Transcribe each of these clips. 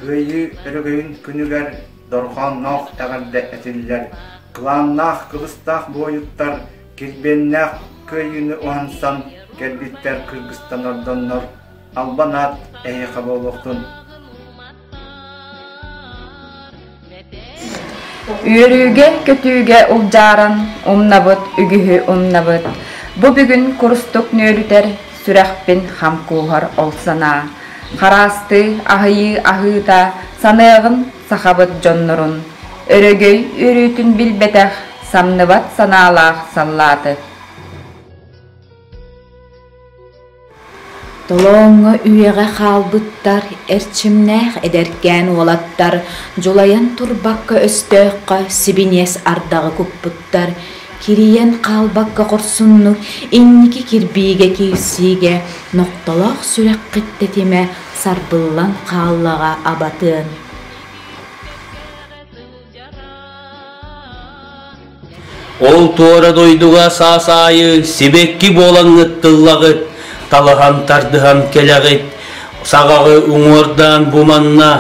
Кыайыы өрөгөйүн күнүгэр дорҕоонноох эҕэрдэ этиллэр. Кылааннаах кылыстаах буойуттар килбиэннээх кыайыыны уһансан кэлбиттэр кыргыстанордоннор Албан аат эһиэхэ буолуохтун. Үөрүүгэ, көтүүгэ улдьааран умнабыт үгүһү умнабыт. Бу бүгүн курустук нүөлүтэр сүрэхпин хам кууһар ол санаа. Хараастыы, аһыйыы аһыыта саныаҕын сахабыт дьоннорун. Өрөгөй үөрүүтүн билбэтэх самныбат санаалаах саллааты. Толооҥҥо үйэҕэ хаалбыттар эрчимнээх эдэркээн уолаттар дьулайан турбакка өстөөххө сибиниэс ардаҕы куппуттар, кирийэн хаалбакка хорсуннук инники кирбиигэ киирсиигэ нохтолоох сүрэххит тэтимэ сарбыллан хааллаҕа абатыан Ол туора дойдуга саасаайы сибэкки буолан ыттыллаҕыт, талаһан тардыһан кэлэҕит, саҕаҕы уҥуордаан бу манна,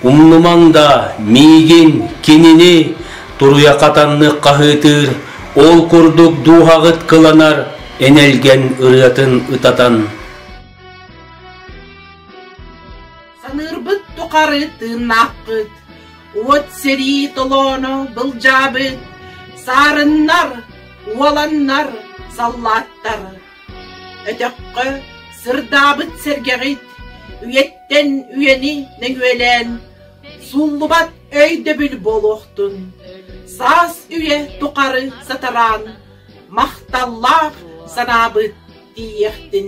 умнумаҥ да миигин, кинини туруйа хатаннык хаһыытыыр, ол курдук дууһаҕыт кыланар энэлгэн ырыатын ытатан. Саныырбыт тухары тыыннаахпыт, уот сэрии толооно былдьаабыт, саарыннар, уоланнар, саллааттар. Өтөххө сырдаабыт сэргэҕит, үйэттэн үйэни нөҥүөлээн, сууллубат өйдөбүл буолуохтун. Саас үйэ тухары сатараан, махталлаах санаабыт тиийиэхтин.